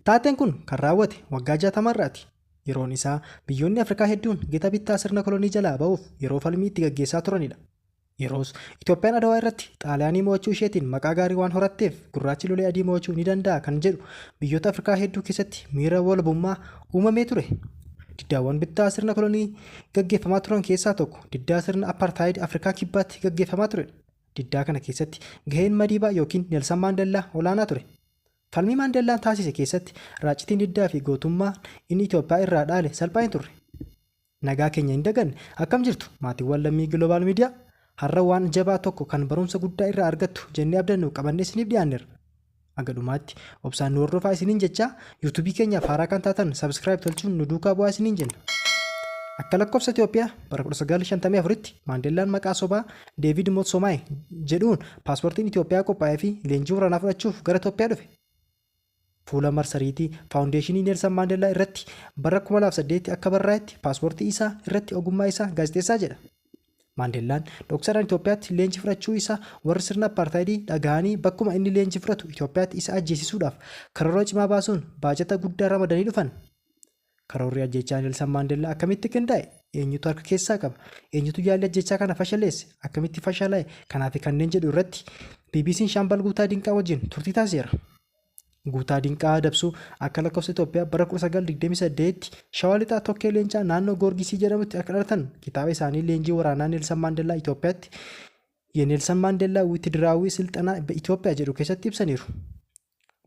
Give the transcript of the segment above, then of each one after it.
Taateen kun kan raawwate waggaa 60 irraati. Yeroon isaa biyyoonni Afrikaa hedduun gita bittaa sirna kolonii jalaa ba'uuf yeroo falmii itti gaggeessaa turanidha. Yeroos Itoophiyaan Adawaa irratti Xaaliyaanii mo'achuu isheetiin maqaa gaarii waan horatteef gurraachi lolee adii mo'achuu ni danda'a kan jedhu biyyoota Afrikaa hedduu keessatti miira walabummaa uumamee ture. Diddaawwan bittaa sirna kolonii gaggeeffamaa turan keessaa tokko diddaa sirna Appaartaayid Afrikaa Kibbaatti gaggeeffamaa turedha. Diddaa kana keessatti gaheen Madiibaa yookiin Nelsan Maandellaa olaanaa ture. Falmii Maandellaan taasise keessatti raaccitiin diddaa fi gootummaa inni Itoophiyaa irraa dhaale salphaa hin turre. Nagaa keenya hin daganne, akkam jirtu maatiiwwan lammii Global Media? Har'a waan jabaa tokko kan barumsa guddaa irraa argattu jennee abdannu qabannee isiniif dhiyaanneerra. Haga dhumaatti obsaan nu hordofaa isiniin jechaa, YouTube keenyaaf haaraa kan taatan subscribe tolchuun nu duukaa bu'aa isiniin jenna. Akka lakkoofsa Itoophiyaa bara 1954tti Maandellaan maqaa sobaa Deevid Motsomaay jedhuun paaspoortiin Itoophiyaa qophaa'ee fi leenjii waraanaa fudhachuuf gara Itoophiyaa dhufe. Fuula marsariitii Faawundeeshinii Neelsan Maandellaa irratti bara 2008 akka barraa'etti paaspoortii isaa irratti ogummaa isaa gaazexeessaa jedha. Maandellaan dhoksaadhaan Itoophiyaatti leenjii fudhachuu isaa warri sirna appaartaayidii dhagahanii bakkuma inni leenjii fudhatu Itoophiyaatti isa ajjeesisuudhaaf karoora cimaa baasuun baajata guddaa ramadanii dhufan. Karoorri ajjeechaa Nelsan Maandellaa akkamitti qindaa'e? Eenyutu harka keessaa qaba? Eenyutu yaalli ajjeechaa kana fashaleesse? Akkamitti fashalaa'e? Kanaafi kanneen jedhu irratti BBC'n Shaambal Guutaa Dinqaa wajjin turtii taasiseera. Guutaa Dinqaa Dabsuu akka lakkoofsa Itoophiyaa bara 1928tti Shawaa Lixaa Tokkee Leencaa naannoo Goorgisii jedhamutti akka dhalatan kitaaba isaanii leenjii waraanaa Neelsan Maandellaa Itoophiyaatti Yeneelsan Maandellaa Wiitidiraawi Silxanaa Itoophiyaa jedhu keessatti ibsaniiru.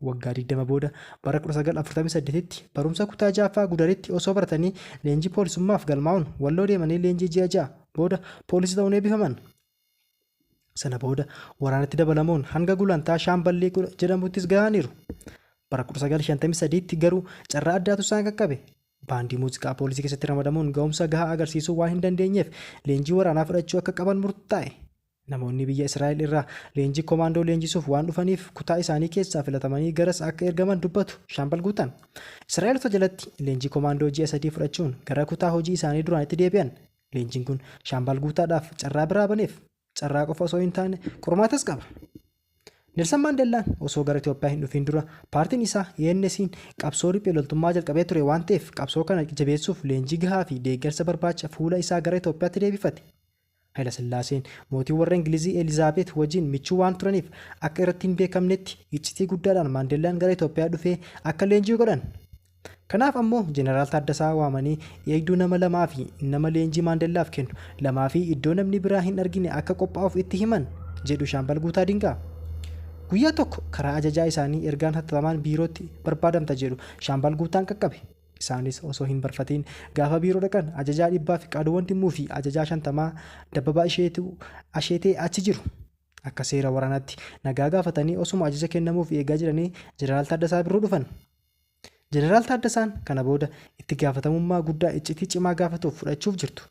Waggaa 20 booda bara 1948tti barumsa kutaa 6ffaa Gudaritti osoo baratanii leenjii poolisummaaf galmaa'uun Walloo deemanii leenjii ji'a 6 booda poolisii ta'uun eebbifaman. Sana booda waraanatti dabalamuun hanga gulantaa shaamballii jedhamuttis gahaniiru. Bara 1953tti garuu carraa addaatu isaan qaqqabe. Baandii muuziqaa poolisii keessatti ramadamuun ga'umsa gahaa agarsiisuu waan hin dandeenyeef leenjii waraanaa fudhachuu akka qaban murtaa'e. Namoonni biyya Israa'el irraa leenjii komaandoo leenjisuuf waan dhufaniif kutaa isaanii keessaa filatamanii garas akka ergaman dubbatu Shaambal Guutan. Israa'elota jalatti leenjii komaandoo ji'a sadii fudhachuun gara kutaa hojii isaanii duraanitti deebi'an. Leenjiin kun Shaambal Guutaadhaaf carraa biraa baneef. Carraa qofa osoo hin taane qormaatas qaba. Nelsan Maandellaan osoo gara Itoophiyaa hin dhufiin dura paartiin isaa ENSiin qabsoo riphee loltummaa jalqabee ture waan ta'eef qabsoo kana jabeessuuf leenjii gahaa fi deeggarsa barbaacha fuula isaa gara Itoophiyaatti deebifate. Hayilasillaaseen mootii warra Ingilizii Elizaabeet wajjin michuu waan turaniif akka irratti hin beekamnetti iccitii guddaadhaan Maandellaan gara Itoophiyaa dhufee akka leenji'u godhan. Kanaaf ammoo Jeneraal Taaddasaa waamanii eegduu nama lamaa fi nama leenjii Maandellaaf kennu lamaa fi iddoo namni biraa hin argine akka qophaa'uuf itti himan, jedhu Shaambal Guutaa Dinqaa. Guyyaa tokko karaa ajajaa isaanii ergaan hattatamaan biirootti barbaadamta jedhu Shaambal Guutaan qaqqabe. Isaanis osoo hin barfatiin gaafa biiroo dhaqan ajajaa dhibbaa Fiqaaduu Wandimmuu fi ajajaa shantamaa Dabbabaa Isheetuu, Asheetee, achi jiru. Akka seera waraanaatti nagaa gaafatanii osuma ajaja kennamuuf eegaa jiranii Jeneraal Taaddasaa Birruu dhufan. Jeneraal Taaddasaan kana booda itti gaafatamummaa guddaa iccitii cimaa gaafatuuf fudhachuuf jirtu.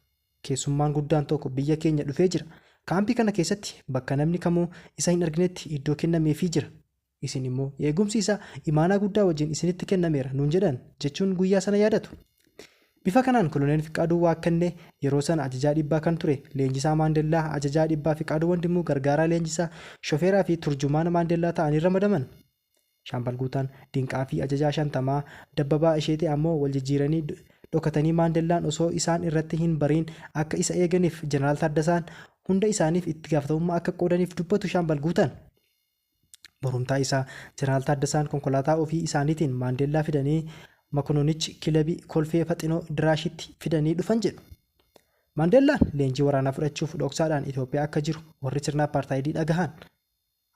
Keessummaan guddaan tokko biyya keenya dhufee jira. Kaampii kana keessatti bakka namni kamuu isa hin arginetti iddoo kennameefii jira. Isin immoo, Eegumsi isaa imaanaa guddaa wajjin isinitti kennameera nuun jedhan jechuun guyyaa sana yaadatu. Bifa kanaan Koloneel Fiqaaduu Waakkannee yeroo sana ajajaa dhibbaa kan ture leenjisaa Maandellaa ajajaa dhibbaa Fiqaaduu Wandimmuu gargaaraa leenjisaa, shofeeraa fi turjumaana Maandellaa ta'anii ramadaman. Shaambal Guutaan, Dinqaa fi ajajaa shantamaa, Dabbabaa Isheetee ammoo wal jijjiiranii dhokatanii Maandellaan osoo isaan irratti hin bariin akka isa eeganiif Jeneraal Taaddasaan hunda isaaniif itti gaafatamummaa akka qoodaniif dubbatu Shaambal Guutaan. Borumtaa isaa Jeneraal Taaddasaan konkolaataa ofii isaaniitiin Maandeellaa fidanii Makononichi kilabi Kolfee Faxinoo Diraashitti fidanii dhufan jedhu. Maandeellaan leenjii waraanaa fudhachuuf dhoksaadhaan Itoophiyaa akka jiru warri sirna appaartaayidii dhagahan.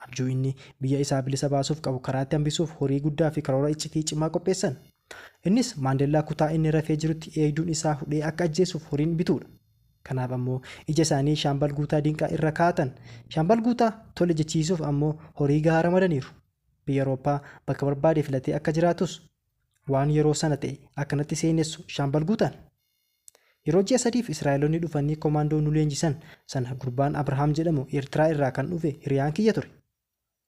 Abjuu inni biyya isaa bilisa baasuuf qabu karaatti hambisuuf horii guddaa fi karoora iccitii cimaa qopheessan. Innis Maandeellaa kutaa inni rafee jirutti eegduun isaa hudhee akka ajjeesuuf horiin bituudha. Kanaaf ammoo ija isaanii Shaambal Guutaa Dinqaa irra kaa'atan. Shaambal Guutaa tole jechiisuuf ammoo horii gahaa ramadaniiru. Biyya Awurooppaa bakka barbaade filatee akka jiraatus waan yeroo sana ta'e akkanatti seenessu Shaambal Guutaan. Yeroo ji'a sadiif Israa'eloonni dhufanii komaandoo nu leenjisan sana gurbaan Abrahaam jedhamu Eertiraa irraa kan dhufe hiriyaan kiyya ture.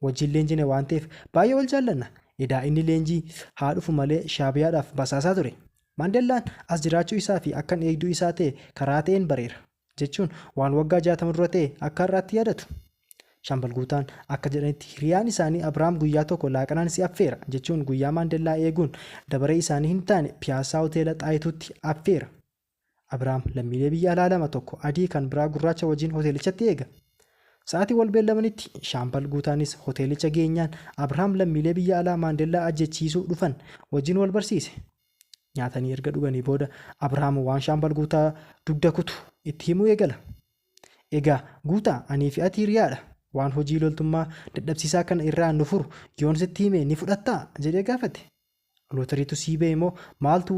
wajjin leenjine waan ta'eef baay'ee wal jaallanna. Edaa inni leenjii haa dhufu malee Shaabiyaadhaaf basaasaa ture. Maandellaan as jiraachuu isaa fi akkan eegduu isaa ta'e karaa ta'een bareera, jechuun waan waggaa 60 dura ta'e akka har'aatti yaadatu. Shaambal Guutaan akka jedhanitti hiriyaan isaanii Abiraam guyyaa tokko laaqanaan si affeera, jechuun guyyaa Maandellaa eeguun dabaree isaanii hin taane Piyaassaa Hoteela Xaayituutti affeera. Abraam lammiilee biyya alaa lama tokko adii kan biraa gurraacha wajjin hoteelichatti eega. Sa'aatii wal beellamanitti Shaambal Guutaanis hoteelicha geenyaan Abraam lammiilee biyya alaa Maandellaa ajjechiisuu dhufan wajjin wal barsiise. Nyaatanii erga dhuganii booda Abraam waan Shaambal Guutaa dugda kutu itti himuu eegala. Egaa Guutaa anii fi ati hiriyaa dha. Waan hojii loltummaa dadhabsiisaa kana irraa nu furu yoon sitti hime ni fudhattaa? jedhee gaafate. Lootariitu sii ba'e moo maaltu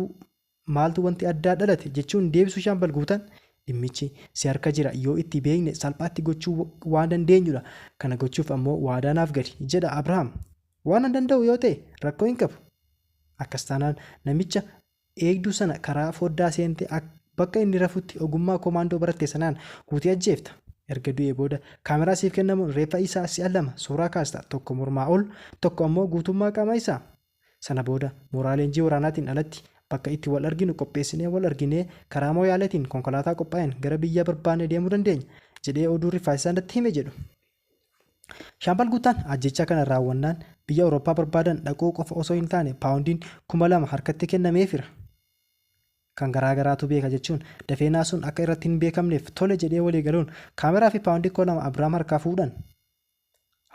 Maaltu wanti addaa dhalate? jechuun deebisu Shaambal Guutaan, dhimmichi si harka jira, yoo itti beekne salphaatti gochuu waan dandeenyudha. Kana gochuuf ammoo waadaa naaf gali, jedha Abrahaam. Waanan danda'u yoo ta'e rakkoo hin qabu. Akkas taanaan namicha eegduu sana karaa foddaa seentee bakka inni rafutti ogummaa komaandoo baratte sanaan guutee ajjeefta. Erga du'ee booda kaameraa siif kennamuun reeffa isaa si'a lama suuraa kaasta, tokko mormaa ol, tokko ammoo guutummaa qaama isaa. Sana booda mooraa leenjii waraanaatiin alatti bakka itti wal arginu qopheessinee wal arginee karaa Mooyaaleetiin konkolaataa qophaa'een gara biyya barbaanne deemuu dandeenya, jedhee oduu rifaasisaa natti hime jedhu. Shaambal Guuttaan ajjeechaa kana raawwannaan biyya Awurooppaa barbaadan dhaquu qofa osoo hin taane paawundiin 2,000 harkatti kennameefira. Kan garaa garaatu beeka jechuun dafee naasuun akka irratti hin beekamneef tole jedhee walii galuun kaameraafi paawundii 2,000 Abiraam harkaa fuudhan.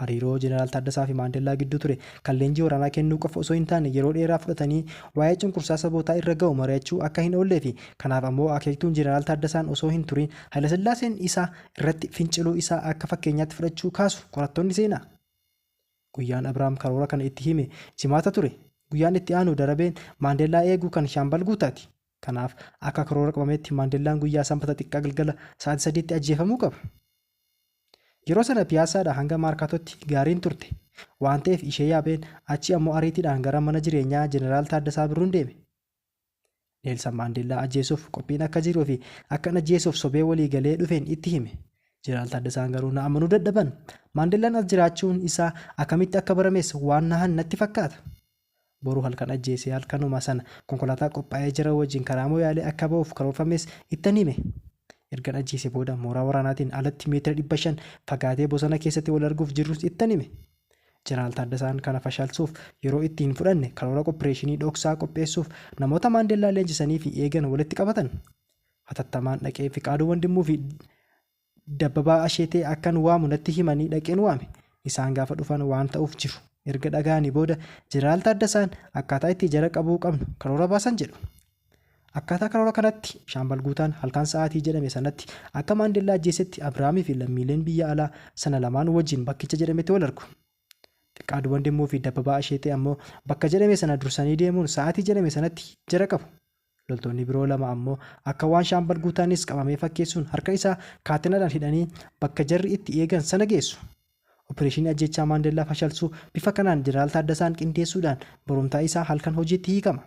Hariiroo Jeneraal Taaddasaa fi Maandellaa gidduu ture kan leenjii waraanaa kennuu qofa osoo hin taane yeroo dheeraa fudhatanii waa'ee cunqursaa sabootaa irra ga'u mari'achuu akka hin oollee fi kanaaf ammoo akeektuun Jeneraal Taaddasaan osoo hin turin Hayilasillaaseen isaa irratti finciluu isaa akka fakkeenyaatti fudhachuu kaasu qorattoonni seenaa. Guyyaan Abrahaam karoora kana itti hime Jimaata ture. Guyyaan itti aanu Darabeen Maandellaa eegu kan Shaambal Guutaati. Kanaaf, akka karoora qabametti Maandellaan guyyaa Sanbata xiqqaa galgala sa'aatii sadiitti ajjeefamuu qaba. Yeroo sana Piyaassaadhaa hanga Maarkaatootti gaariin turte. Waan ta'eef ishee yaabeen achii ammoo ariitiidhaan gara mana jireenyaa Jeneraal Taaddasaa Birruun deeme. Neelsan Maandeellaa ajjeesuuf qophiin akka jiruu fi akkan ajjeesuuf sobee walii galee dhufeen itti hime. Jeneraal Taaddasaan garuu na amanuu dadhaban. Maandellaan as jiraachuun isaa akkamitti akka barames waan nahan natti fakkaata. Boru halkan ajjeesee halkanuma sana konkolaataa qophaa'ee jira wajjin karaa Moyaalee akka ba'uuf karoorfames ittan hime. Ergan ajjeesee booda mooraa waraanaatiin alatti meetira 500 fagaatee bosona keessatti wal arguuf jirrus ittan hime. Jeneraal Taaddasaan kana fashalsuuf yeroo itti hin fudhanne karoora qoppireeshinii dhoksaa qopheessuuf namoota Maandeellaa leenjisaniifi eegan walitti qabatan. Hatattamaan dhaqee Fiqaaduu Wandimmuufi Dabbabaa Asheetee akkan waamu natti himanii dhaqeen waame. Isaan gaafa dhufan waan ta'uuf jiru erga dhagahanii booda Jeneraal Taaddasaan akkaataa itti jara qabuu qabnu karoora baasan jedhu. Akkaataa karoora kanatti Shaambal Guutaan halkan sa'aatii jedhame sanatti akka Maandellaa ajjeesetti Abirahaamii fi lammiileen biyya alaa sana lamaan wajjin bakkicha jedhametti wal argu. Fiqaaduu Wandimmoo fi Dabbabaa Asheetee ammoo bakka jedhame sana dursanii deemuun sa'aatii jedhame sanatti jara qabu. Loltoonni biroo lama ammoo akka waan Shaambal Guutaanis qabamee fakkeessuun harka isaa kaatenaadhaan hidhanii bakka jarri itti eegan sana geessu. Opireeshinii ajjeechaa Maandellaa fashalsuu bifa kanaan Jeneraal Taaddasaan qindeessuudhaan borumtaa isaa halkan hojiitti hiikama.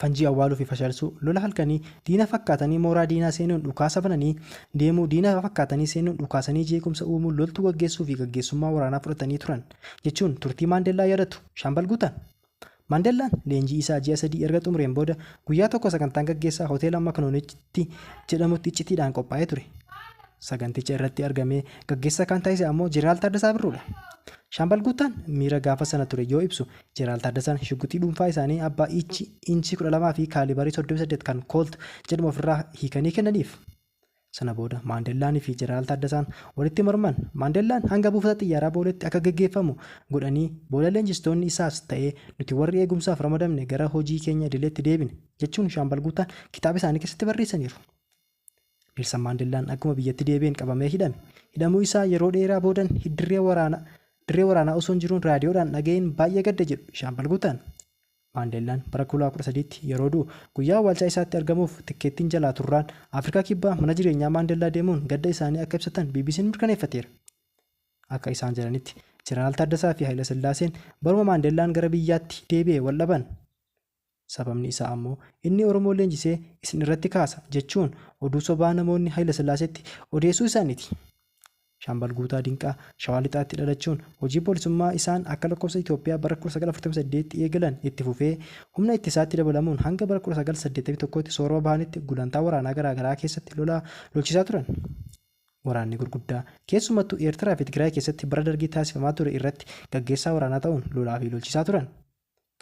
Fanjii awwaaluu fi fashalsuu, lola halkanii, diina fakkaatanii mooraa diinaa seenuun dhukaasa bananii deemuu, diina fakkaatanii seenuun dhukaasanii jeequmsa uumuu, loltuu gaggeessuu fi gaggeessummaa waraanaa fudhatanii turan, jechuun turtii Maandellaa yaadatu Shaambal Guutaan. Maandellaan leenjii isaa ji'a sadii erga xumureen booda guyyaa tokko sagantaan gaggeessaa hoteela Maknoonitti jedhamutti iccitiidhaan qophaa'ee ture. Saganticha irratti argamee gaggeessaa kan taasise ammoo Jeneraal Taaddasaa Birruudha. Shaambal Guuttaan miira gaafa sana ture yoo ibsu, Jeneraal Taaddasaan shugguxii dhuunfaa isaanii abbaa iichii inchii 12 fi kaalibarii 38 kan Koolt jedhamu ofirraa hiikanii kennaniif. Sana booda Maandellaanii fi Jeneraal Taaddasaan walitti morman. Maandellaan hanga buufata xiyyaaraa Booleetti akka geggeeffamu godhanii booda leenjistoonni isaas ta'ee nuti warri eegumsaaf ramadamne gara hojii keenya idileetti deebine, jechuun Shaambal Guutaan kitaaba isaanii keessatti barreessaniiru. Neelsan Maandellaan akkuma biyyatti deebi'een qabamee hidhame. Hidhamuu isaa yeroo dheeraa boodan dirree waraanaa osoo hin jiruun raadiyoodhaan dhaga'een baay'ee gadde jedhu Shaambal Guutaan. Maandeellaan bara 2013tti yeroo du'u guyyaa awwaalchaa isaatti argamuuf tikkeettiin jalaa turraan Afrikaa Kibbaa mana jireenyaa Maandeellaa deemuun gadda isaanii akka ibsatan BBC'n mirkaneeffateera. Akka isaan jedhanitti, Jeneraal Taaddasaa fi Hayilasillaaseen baruma Maandeellaan gara biyyaatti deebi'e wal dhaban. Sababni isaa ammoo inni Oromoo leenjisee isin irratti kaasa jechuun oduu sobaa namoonni Hayilasillaaseetti odeessuu isaaniiti. Shaambal Guutaa Dinqaa Shawaa Lixaatti dhalachuun hojii poolisummaa isaan akka lakkoofsa Itoophiyaa bara 1948tti eegalan itti fufee humna ittisaatti dabalamuun hanga bara 1981tti soorama bahanitti gulantaa waraanaa garaa garaa keessatti lola lolchisaa turan. Waraanni gurguddaa keessumattuu Eertiraa fi Tigraay keessatti bara Dargii taasifamaa ture irratti gaggeessaa waraanaa ta'uun lolaa fi lolchisaa turan.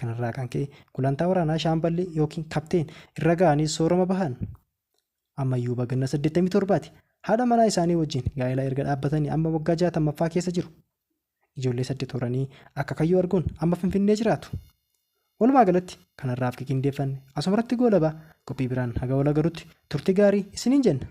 Kanarraa kan ka'e gulantaa waraanaa shaamballi ykn kapteen irra ga'anii soorama bahan. Ammayyuu baganna 87ti. Haadha manaa isaanii wajjin gaa'ela erga dhaabbatanii amma waggaa 60ffaa keessa jiru. Ijoollee saddet horanii akkakayyuu arguun amma Finfinnee jiraatu. Walumaa galatti kan har'aaf qiqindeeffanne asumarratti goolaba, qophii biraan haga wal agarutti turti gaarii isiniin jenna.